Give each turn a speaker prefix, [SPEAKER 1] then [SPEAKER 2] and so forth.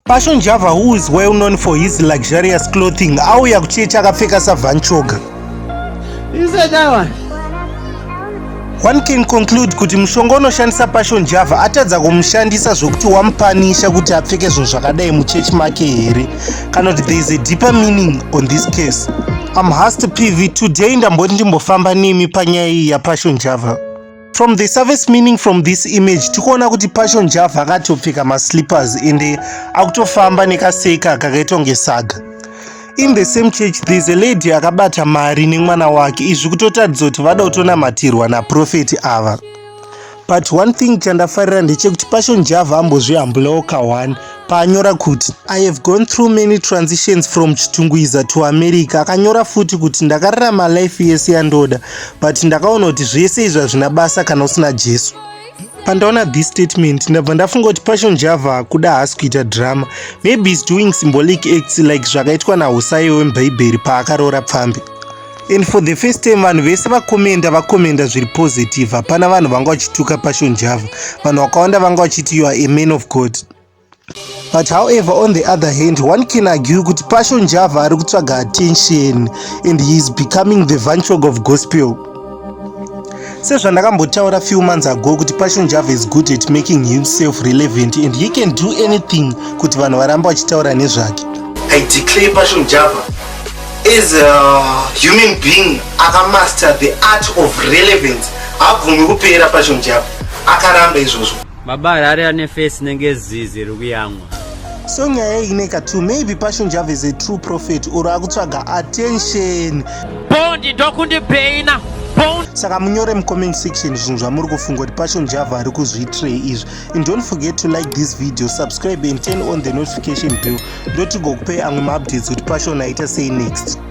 [SPEAKER 1] Passion Java who is well known for his luxurious clothing auya kucheche akapfeka savanchoga.
[SPEAKER 2] You said that one.
[SPEAKER 1] One can conclude kuti mushonga unoshandisa Passion Java atadza kumushandisa zvokuti wamupanisha kuti apfeke zvinhu zvakadai muchechi make here kana kuti there is a deeper meaning on this case. I'm Hasta PV today ndamboti ndimbofamba nemi panyaya iyi yaPassion Java. from the surface meaning from this image tikuona kuti pacho njavha akatopfeka maslippers ende akutofamba nekaseka kakaitwa ngesaga in the same church there's a lady akabata mari nemwana wake izvi kutotaridza kuti vada kutonamatirwa naprofeti ava but one thing chandafarira ndechekuti pasho njavha ambozvihambulawo ka1 paanyora kuti i have gone through many transitions from chitungwiza to america akanyora futi kuti ndakararama life yese yandoda but ndakaona kuti zvese izvi hazvina basa kana usina jesu pandaona this statement ndabva ndafunga kuti passion java akuda haasi kuita drama maybe is doing symbolic acts like zvakaitwa nahusaiwe wemubhaibheri paakaroora pfambi and for the first time vanhu vese vakomenda vakomenda zviri positive hapana vanhu vanga vachituka passion java vanhu vakawanda vanga vachiti you are a man of god but however on the other hand one can argue kuti passion java ari kutsvaga attention and he is becoming the vanchog of gospel sezvandakambotaura few months ago kuti passion java is good at making himself relevant and he can do anything kuti vanhu varamba vachitaura nezvake i declare passion java is a human being akamaster the art of relevance habvumi kupera passion java akaramba izvozvo Baba Harare ane
[SPEAKER 2] face nenge zizi rikuyamwa. So nyaya
[SPEAKER 1] iyi ineka too maybe Passion Java is a true prophet or akutsvaga attention. Bondi
[SPEAKER 2] ndokundi paina. Saka
[SPEAKER 1] munyore mu comment section zvinhu zvamuri kufunga kuti Passion Java ari kuzviitirei izvi. And don't forget to like this video, subscribe and turn on the notification bell. Ndotigokupai amwe ma updates kuti Passion aita sei next.